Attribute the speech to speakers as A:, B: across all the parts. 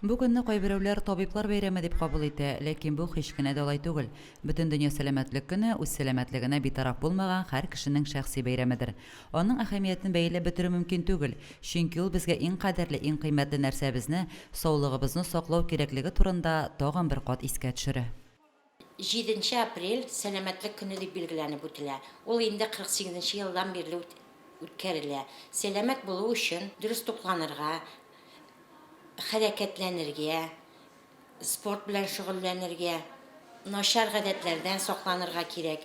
A: Бу көнне кайберәүләр табиблар бәйрәме дип кабул итә, ләкин бу һич кенә дә алай түгел. Бөтендөнья сәламәтлек көне, үз сәламәтлегенә битараф булмаган һәр кешенең шәхси бәйрәмедер. Аның әһәмиятен бәяләп бетерү мөмкин түгел, чөнки ул безгә иң кадерле, иң кыйммәтле нәрсәбезне, саулыгыбызны саклау кирәклеге турында тагын бер кат искә төшерә. Җиденче
B: апрель, Сәламәтлек көне дип билгеләнеп үтелә. Ул инде 48 нче елдан бирле үткәрелә. Сәламәт булу өчен дөрес тукланырга, хәрәкәтләнергә, спорт белән шөгыльләнергә, начар гадәтләрдән сакланырга кирәк.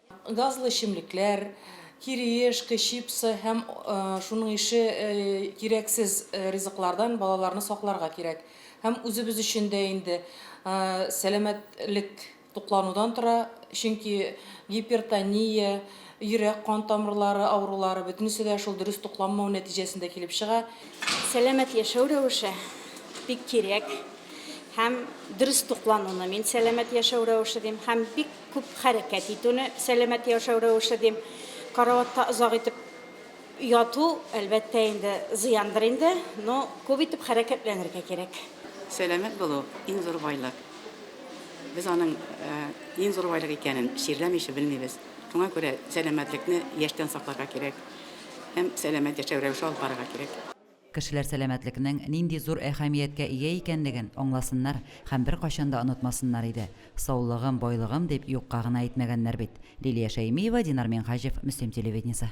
A: Газлы
C: эчемлекләр, кириешка, чипсы һәм шуның ише кирәксез ризыклардан балаларны сакларга кирәк. Һәм үзебез өчен дә инде сәламәтлек тукланудан тора, чөнки гипертония, йөрәк-кан тамырлары авырулары, бөтенесе дә шул дөрес тукланмау нәтиҗәсендә килеп чыга. Сәламәт
D: яшәү рәвеше бик кирәк һәм дөрес туклануны мин сәламәт яшәү рәвеше дим һәм бик Күп хәрәкәт итүне сәламәт яшәү рәвеше дим. Караватта озак итеп яту, әлбәттә инде, зыяндыр инде, но күп итеп хәрәкәтләнергә кирәк. Сәламәт булу,
E: иң зур байлык. Без аның иң зур байлык икәнен чирләмичә белмибез. Шуңа күрә сәламәтлекне яшьтән сакларга кирәк һәм сәламәт яшәү рәвеше алып барырга кирәк. Кешеләр
A: сәламәтлекнең нинди зур әһәмияткә ия икәнлеген аңласыннар һәм беркайчан да онытмасыннар иде. Саулыгым, байлыгым дип юкка гына әйтмәгәннәр бит. Лилия Шәймиева, Динар Минһаҗев, Мөслим телевидениесе.